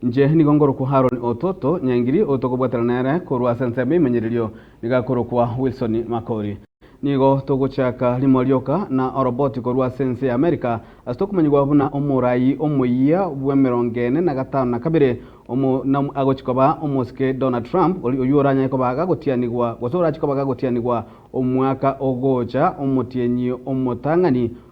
Inche nigo ngorokwa Haroni Ototo Nyangiri otokobwatera nere korwa ase ensemo ya imenyererio, nigo akorokwa Wilson Makori. Nigo togochaka rimo rioka na oroboti korwa ase ense ya Amerika, ase tokomanyigwa buna omoraai omoyia bw'emerongo ene na gatano na kabere, omonamwe agochia koba omosike Donald Trump, oria oyio oranyare koba gagotianigwa, gose orachia koba gagotianigwa omwaka ogocha, omotienyi omotang'ani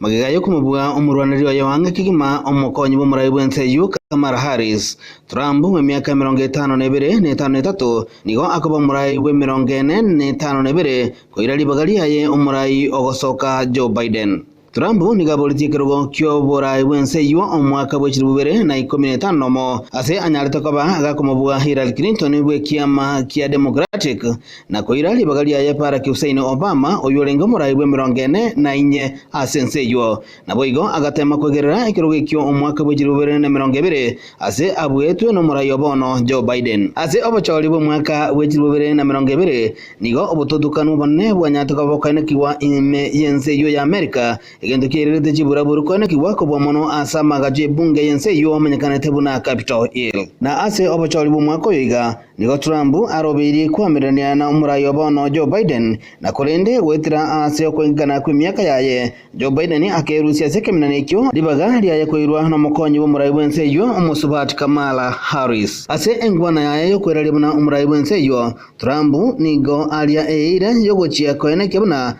Magega y'okomobua omorwaneri oye o ang'e kegima, omokonyi bw'omoraai bw'ense eyio Kamala Harris. Trump, bw'emiaka emerongo etano na ebere na etano na etato, nigo akoba omoraai bw'emerongo ene na etano na ebere koira ribaga riaye omoraai ogosoka Joe Biden. Trump nigo aboretie ekerogo ki'oboraai bw'ense eyio omwaka bwe chilifu ibere na ikomi na etano na omo ase anyarete koba agakomobua Hillary Clinton bw'ekiama kia Democratic Na koira ribaga riaye Barack Hussein Obama, oyio orenge omoraai bw'emerongo ene na inye ase ense eyio, naboigo agateema kwegerera ekerogo ekio omwaka bwe chilifu bibere na emerongo ebere ase abuetwe nomoraai o bono Joe Biden. Ase obochoori bw'omwaka bwe chilifu bibere na emerongo ebere, nigo obotutukanu obonene bwanyarete koba bokoenekigwa ime y'ense eyio ya America, egento kiairerete chiburaburu koenekigwa kobua mono ase amaagacho y'ebunge y'ense eyio amenyekanete buna Capitol Hill. Na ase obochoori bw'omwaka oyo iga, Nigo Trump arobeirie koamererania na omorai o bono Joe Biden, na korende goetera aase okoengekana kw'emiaka yaye, Joe Biden akerusia ase ekeminana ekio ribaga riaye koirwa nomokonyi bw'omorai bw'ense eyio omosubaati Kamala Harris. Ase engwana yaye y'okweraria buna omorai bw'ense eyio, Trump nigo aria eira y'ogochia koenekia buna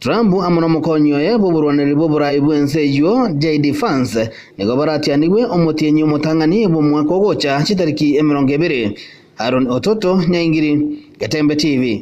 Trump amo n'omokonyi oye bw'oborwaneri bw'oboraai bw'ense eyio, JD Vance, nigo baratianigwe omotienyi omotang'ani bw'omwaka ogocha chitariki emerongo ebere. Aaron Ototo, Nyaingiri, Getembe TV.